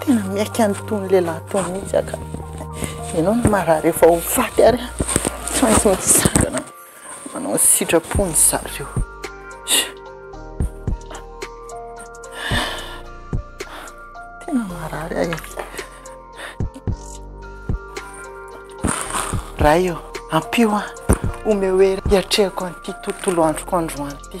Tena miaiky an'itony lehilahy itony mihitsy aho ka. Ianao no marary efa ho faty ary tsy maintsy mitsangana manao ny sitrapon'i zareo. Tena marary ahy. Ray ô, ampio aho, omeo hery hiatrehako an'ity tontolo androko androany ity.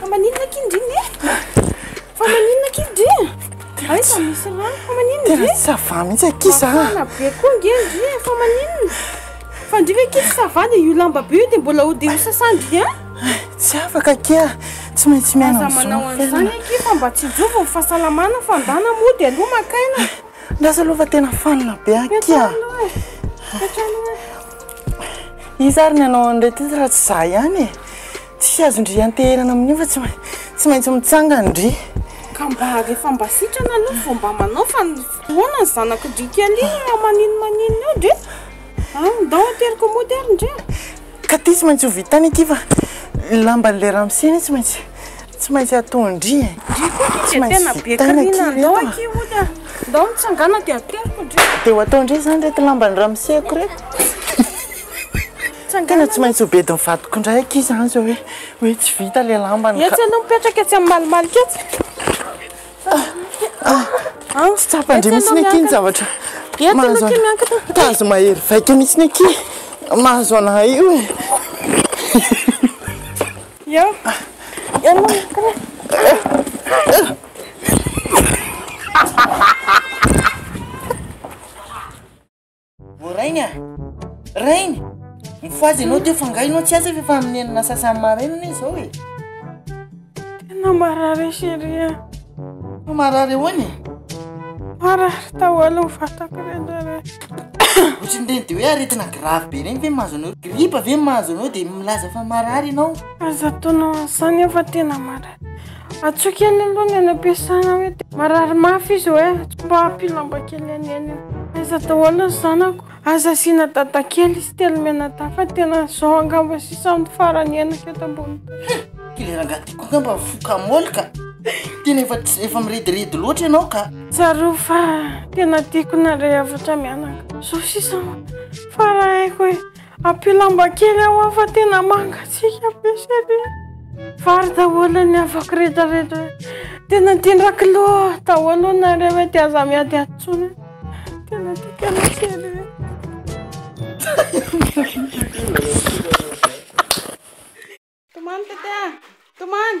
Fa maninona aky ndry ne? Fa maninona aky ndry? Ay fa misy rano fa maninona ndry? Tena sava mihitsy aky za. Mafana be koa nge ndry e, fa maninona? Fa ndry ve aky tsy sava dia io lamba be io dia mbola ho dia ho sasandry an? Tsy afaka aky a, tsy maintsy miaina Aza manao am'zao an'izany fiainana. aky fa mba tsinjovy ny fahasalamana fa ndà na mody aloha maka aina. Lasa aloha fa tena fanina be aky a. Miatrano e, miatrano e. Iza ary ny hanao an'ireto izy raha tsy izaho ihany e? Tsy azon-dry ianteherana amin'io fa tsy tsy maintsy mitsangandry. Ka mba rehefa mba sitrana aloha vao mba manao fa ny fotoana ny zanakindry kely iny raha maninona maninona eo ndry a! ndao ateriko mody ary ndry a! Ka ity tsy maintsy ho vitany ity fa ny lamban'ilay ramose anie tsy maintsy. Tsy maintsy atao ndry e. Ndry koa akia dia tena be karina andao akia hody a. Ndao mitsangàna dia ateriko ndry. Dia ho atao ndry izany ireto lamban'ny ramoseko ireto. Tena tsy maintsy ho bedin'ny vadiko indray akia izany izao hoe hoe tsy vita ilay lambany ka. Etsy aloha mipetraka etsy amin'ny malimalika etsy. Tsy tsapa ndry mihitsy akia ny zavatra. Etsy aloha akia miankina. Tazo mahery vaika mihitsy akia mahazo an'ahy io e. Eo. Ô rainy a! Rainy! Mifohaza ianao teo fa nga ianao tsy aza ve fa amin'ny enina sasany maraina anie izao e? Tena marary chérie a! Marary ahoana e? Marary tahoala ny vatako re ndraindray. Ohatrin'ny ireny de hoe aretina grave be ireny ve mahazo anao? Gripa ve mahazo anao dia milaza fa marary ianao? Aza ataonao an'izany fa tena marary. Antsoy kely aloha ny any am-piasana hoe dia marary mafy izy hoe antsoy mba ampio lamba kely an'eny. Aiza daholo ny zanako? Aza asiana dada kely izy telo mianadahy fa tena izao angamba sisa no farany henako eto ambony tany. Kely rangahy ty koa angamba mifoka môly ka! Tena efa tsy, efa mirediredy loatra ianao ka! Tsarovy fa tena tiako nareo hafatra mianaka. Zao sisa fa raha haiko hoe ampio lamba kely aho aho fa tena mangatsiaka be sady vary daholo ny havako rehetra rehetra. Tena tiandra kilo daholo nareo hoe dia aza miady atsony. Tena tiako anao sady. Tomany tete, tomany.